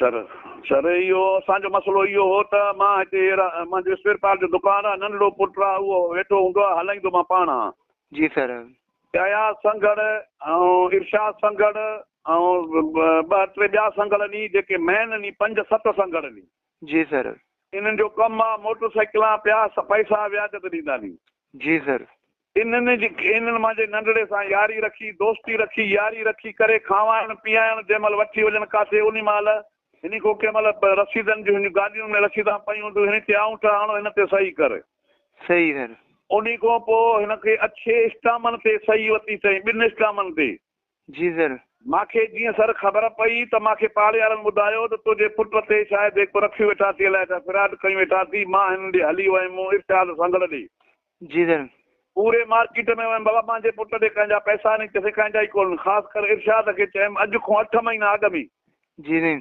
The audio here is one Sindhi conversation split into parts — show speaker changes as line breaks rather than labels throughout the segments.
سر
سر اهو اسان جو مسئلو اهو هو ته مان هتي ايرا منهنجو اسپيئر پارٽ جو دڪان آهي ننڍڙو پٽ آهي اهو ويٺو هوندو آهي هلائيندو مان پاڻ آهان. جي سر.
اياز سنگهڙ
۽ ارشاد سنگهڙ ۽ ٻه ٽي ٻيا سنگهڙ ني جيڪي مين ني پنج ست سنگهڙ ني. جي سر.
انهن جو ڪم
آهي موٽر سائيڪلان پيا پئسا وياج تي ڏيندا ني. جي سر.
انهن جي
انهن مان جي ننڍڙي سان ياري رکي، دوستي رکي، ياري رکي ڪري کانوائڻ پيائڻ جنهن مهل وٺي وڃن ڪاٿي انهي مهل هني کون ڪنهن مهل رسيدن جون هنجون گاڏيون ۾ رسيدان پيون هونديون هني تي آئونٺ هڻو هن تي صحي ڪر. صحي ڪر.
انهي کون پوء
هن کي اڇي اسٽامن تي صحي وتي چئين ٻن اسٽامن تي. جيزر.
مان کي جيئن سر
خبر پئي ته مان کي پاڙيارن ٻڌايو ته تنهنجي پٽ تي شايد هي ڪو رکيون ويٺا ٿي الائي ڇا فراڊ ڪيون ويٺا ٿي مان هنن ڏي هلي ويم مون ارشاد سنگهڙ ڏي جيزر.
پوري مارڪيٽ
۾ ويم بابا مانجهي پٽ ڏي ڪنهن جا پئسا ني چيسين ڪنهن جا ئي ڪونهن خاص ڪر ارشاد کي چيم اڄ کون اٺ مهينا اڳ ۾. جيزر.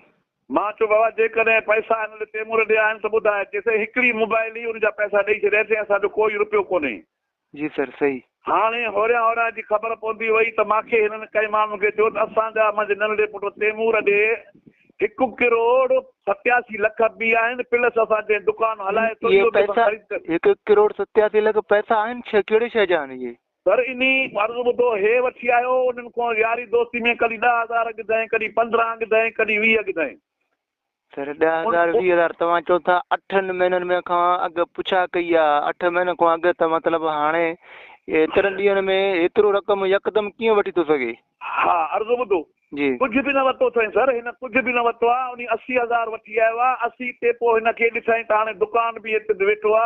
مان چيو بابا
جيڪڏهن پئسا هن ڏي تيمور ڏي آهن ته ٻڌاء چيسين هڪڙي موبائل هئي ان جا پئسا ڏئي ڇڏيا چيائين اسان جو ڪوئي رپيو ڪونهي جي سر سھي.
ھاڻي ھوريان
ھوريان جي خبر پوندي وئي ته ماکي ھنن ڪئين ماڻھن کي چيو ته اسان جا منھنجي ننڍڙي پٽ تيمور ڏي ھڪ ڪروڙ ستياسي لک به آھن پلس اسان جنھن دڪان ھلائي ٿو اھو به اسان خريد ڪري. ھڪ
ڪروڙ ستياسي لک پئسا آھن ڇا ڪھڙي شيء جا آھن اھي؟ سر انھي عرض
ٻڌو ھي وٺي آيو انھن کان ياري دوستي ۾ ڪڏھن ڏھ ھزار ڳڌائين ڪڏھن پندرھن ڳڌائين ڪڏھن ويھه ڳڌائين سر
ڏهه هزار ويهه هزار توهان چو ٿا اٺن مهينن ۾ کان اڳ پڇا ڪئي آ اٺ مهينن کان اڳ ته مطلب هاڻي ايترن ڏينهن ۾ ايترو رقم يڪدم ڪيئن وٺي ٿو سگهي ها عرض ٻڌو
جي ڪجهه به نه
ورتو اٿئين
سر هن ڪجهه به نه ورتو آ انهي اسي هزار وٺي آيو آ اسي تي پوء هن کي ڏٺئين ته هاڻي دڪان به هت تي ويٺو آ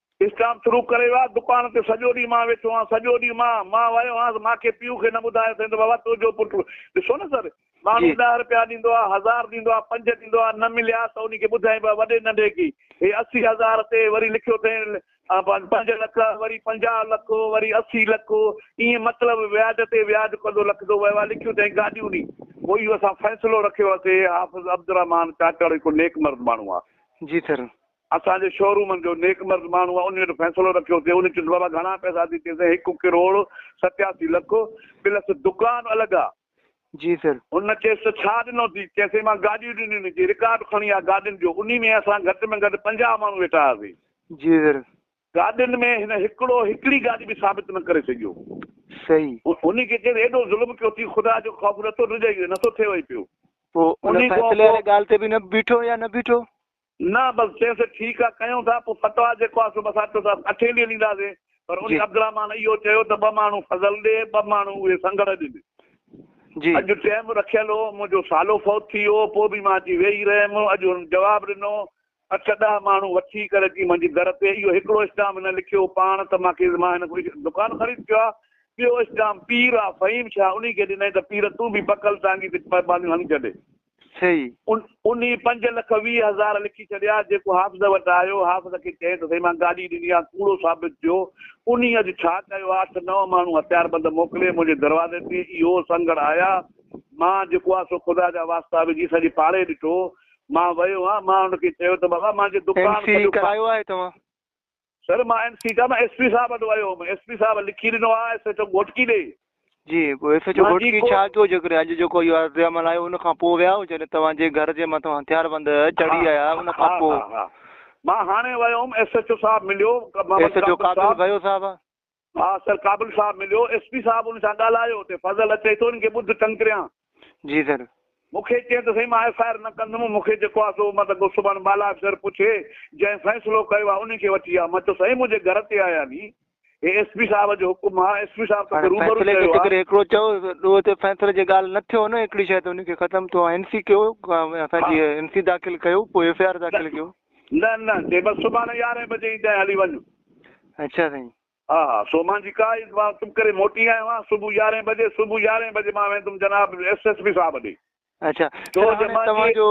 اسٽاف شروع
ڪري ويو آ، دڪان تي سڄو ڏينهن مان ويٺو آهيان، سڄو ڏينهن مان مان ويو هئس، مان کي پيء کي نه ٻڌايو اٿئين ته بابا تنهنجو پٽ ڏسو نه سر ماڻهو ڏهه رپيا ڏيندو آ، هزار ڏيندو آ، پنج ڏيندو آ، نه مليا ته انهي کي ٻڌائين به وڏي ننڍي کي هي اسي هزار تي وري لکيو اٿئين پنج لک وري پنجاهه لک وري اسي لک ائين مطلب وياج تي وياج ڪندو لکندو ويو آ، لکيون اٿئين گاڏيون ڏي پوء اهو اسان فيصلو رکيو آ سي حافظ عبدالرحمان چانڊياڙو هڪ نيڪ مرد ماڻهو آ. جي سر
اسان جي شو
رومن جو نيڪ مرد ماڻهوء انهيء وٽ فيصلو رکيو ٿي. هن چيس، بابا گهڻا پئسا ٿي؟ چيسين، هڪ ڪروڙ ستياسي لک، پلس دڪان الڳ آ. جي سر.
هن چيس ته ڇا
ڏنو ٿي؟ چيسين، مان گاڏيون ڏنيون ني جي رڪارڊ کڻي آ گاڏين جو، انهي ۾ اسان گهٽ ۾ گهٽ پنجاهه ماڻهو ويٺا هئاسين. جي سر.
گاڏين ۾
هن هڪڙو هڪڙي گاڏي به ثابت نه ڪري سگهيو. صحيح.
انهي کي چيس،
ايڏو ظلم ڪيو ٿي، خدا جو خوف نٿو رجئي نٿو ٿئي وئي پيو. پوء ان فيصلي
واري ڳالهه تي به نه بيٺو يا نه بيٺو؟ نه بس
چيسين ٺيڪ آ ڪيون ٿا پوء فتويٰ جيڪو آ سو بس آبٽو صاحب اٺين ڏينهن ڏينداسين پر انهي عبدالرحمان اهو چيو ته ٻه ماڻهو فضل ڏي ٻه ماڻهو اهي سنگهڙ ڏن
اڄ ٽيم
رکيل هو منهنجو سالو فوت ٿي ويو پوء به مان اچي ويهي رهيم اڄ هن جواب ڏنو اٺ ڏهه ماڻهو وٺي ڪري اچي منهنجي در تي اهو هڪڙو اسٽام هن لکيو پاڻ ته مان کي مان هن کان دڪان خريد ڪيو آ ٻيو اسٽام پير آ فهيم شاهه انهي کي ڏنائين ته پير تون به پڪل ٽانگي تي پاٻاليون هڻي ڇڏ سھي.
انھي
پنج لک ويھه ھزار لکي ڇڏيا، جيڪو حافظ وٽ آيو، حافظ کي چئين ته سائين مان گاڏي ڏني آ، ڪوڙو ثابت ٿيو، انھي اڄ ڇا ڪيو آ، اٺ نو ماڻھو ھٿياربند موڪلي منھنجي دروازي تي اھو سنگھڙ آيا، مان جيڪو آ سو خدا جا واسطا وجھي سڄي پاڙي ڏٺو، مان ويو ھان، مان ان کي چيو ته بابا مانجي دڪان سڄو ڪرايو آھي توھان؟
سر مان اين سي ڪا مان
ايس پي صاحب وٽ ويو هوم ايس پي صاحب لکي ڏنو آ ايس ايڇ او گهوٽڪي ڏي. جي پوء ايس
ايڇ او گهوٽڪي ڇا ڪيو جيڪڏهن اڄ جيڪو اهو عرض عمل آيو ان کان پوء ويا هو جڏهن توهان جي گهر جي مٿان هٿيار بند چڙهي آيا ان کان پوء. ها ها مان هاڻي
ويو هوم ايس ايڇ او صاحب مليو. ايس ايڇ او قاتل
ڀيو صاحب. آء سر
ڪابل صاحب مليو. ايس پي صاحب ان سان ڳالهايو تي فضل اچي ٿو ان کي ٻڌ ڪنڪريان. جي سر. مون کي چئين ته سائين مان ايف آء آر نه ڪندم مون کي جيڪو آ سو مت ڪو سڀان بالا افسر پڇي جنهن فيصلو ڪيو آ ان کي وٺي آ مان چيو سائين منهنجي گهر تي آيا ني هي ايس پي صاحب جو حڪم آ ايس پي صاحب توکي روبرو چيو آ. فيصلي کي ڪري هڪڙو چئو ڏوهه
تي فيصلي جي ڳالهه نه ٿيو نه هڪڙي شئي تي ان کي ختم ٿو آ ان سي ڪيو اسان جي ان سي داخل ڪيو پوء ايف آء آر داخل ڪيو. نه
نه چي بس سڀاڻي يارهين بجي ايندين ۽ هلي وڃ. اڇا سائين.
ها ها سو مان
جي ڪا عيد مان چپ ڪري موٽي آيو آهيان صبح يارهين بجي صبح يارهين بجي مان ويندم جناب ايس ايس پي صاحب ڏي. اڇا سر
هاڻي توهان جو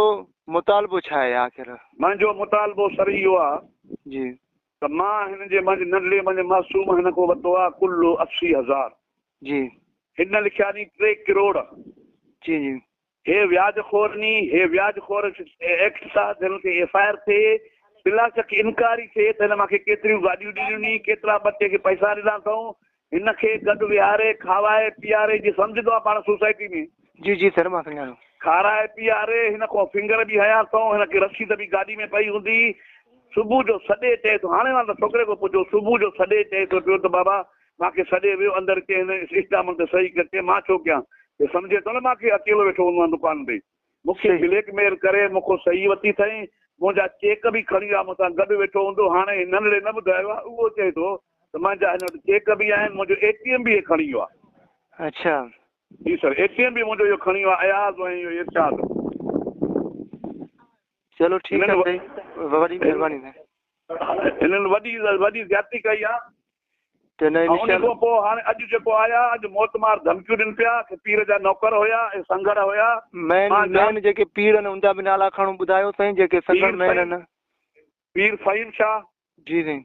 مطالبو ڇا آهي آخر. منهنجو مطالبو
سر اهو آ. جي. ته
مان هن
جي منهنجي ننڍڙي منهنجي معصوم هن کان ورتو آ ڪلهو اسي هزار. جي.
هن لکيا
ني ٽي ڪروڙ. جي جي.
هي وياج
خور ني هي وياج خور ايڪٽ سان جنهن تي ايف آء آر ٿئي بلاشڪ انڪاري ٿئي ته هن مان کي ڪيتريون گاڏيون ڏنيون ني ڪيترا ٻٽي کي پئسا ڏنا اٿئون هن کي گڏ ويهاري کاوائي پيئاري جي سمجهه توهان پاڻ سوسائٽي ۾ جي جي سر مان
سڃاڻو. کارائي پيئاري
هن کان فنگر به هنيا اٿئون هن کي رسيد به گاڏي ۾ پئي هوندي صبح جو سڏي چئي ٿو هاڻي واندا ڇوڪري ڪو پڇو صبح جو سڏي چئي ٿو پيو ته بابا مان کي سڏي ويو اندر ڪي هن اسٽامن تي صحيح ڪر چي مان ڇو ڪيان هي سمجهي ٿو نه مان ڪي اڪيلو ويٺو هوندو آهيان دڪان تي مون کي بليڪ ميل ڪري مون کون صحيح وتي ٿئي منهنجا چيڪ به کڻي آ مون سان گڏ ويٺو هوندو هاڻي هي ننڙي نه ٻڌايو آ اهو چئي ٿو ته منهنجا هن وٽ چيڪ به آهن منهنجو اي ٽي ايم به هي کڻي ويو آ. اڇا.
جي سر اي
ٽي ايم به منهنجو اهو کڻي ويو آ اياز ۽ اهو ارشاد.
چلو ٺيڪ آ سائين وڏي مھرباني سائين.
هنن وڏي وڏي زيادتي ڪئي آ ته نه ان
کان پوء
هاڻي اڄ جيڪو آيا اڄ موت مار ڌمڪيون ڏين پيا کي پير جا نوڪر هيا اي سنگهڙ هيا مين مين
جيڪي پير ان جا به نالا کڻو ٻڌايو سائين جيڪي سنگهڙ مين ان پير
فهيم شاھ جي سائين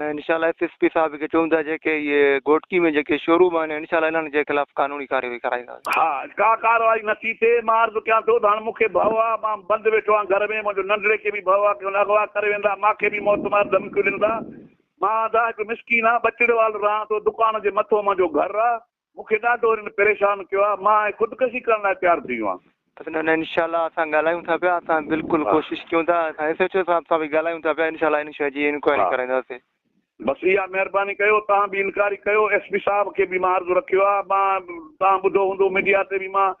۽ ان
شاء الله ايس ايس پي صاحب کي چئون ٿا جيڪي اهي گهوٽڪي ۾ جيڪي شوروم آهن ان شاء الله انهن جي خلاف قانوني ڪارروائي ڪرائينداسين. ها ڪا
ڪارروائي نه ٿي ٿئي مان عرض ڪيان ٿو ته هاڻ مونکي ڀئو آ مان بند ويٺو آهيان گهر ۾ منهنجو ننڍڙي کي به ڀئو آ ڪي هن اغوا ڪري ويندا ماکي به موت مار ڌمڪيون ڏين ٿا مان ادا هڪ مسڪين آ ٻچڙي وال رهان ٿو دڪان جي مٿو منهنجو گهر آ مون کي ڏاڍو هنن پريشان ڪيو آهي مان هاڻي خودڪشي ڪرڻ لاء تيار ٿي ويو آهيان. حسن نه نه انشاء الله
اسان ڳالهايون ٿا پيا اسان بلڪل ڪوشش ڪيون ٿا اسان ايس ايڇ او صاحب سان به ڳالهايون ٿا پيا انشاء الله هن شيء جي انڪوائري ڪرائينداسي. بس اها مهرباني ڪيو
توهان به انڪاري ڪيو ايس پي صاحب کي به مان عرض رکيو آهي مان توهان ٻڌو هوندو ميڊيا تي به مان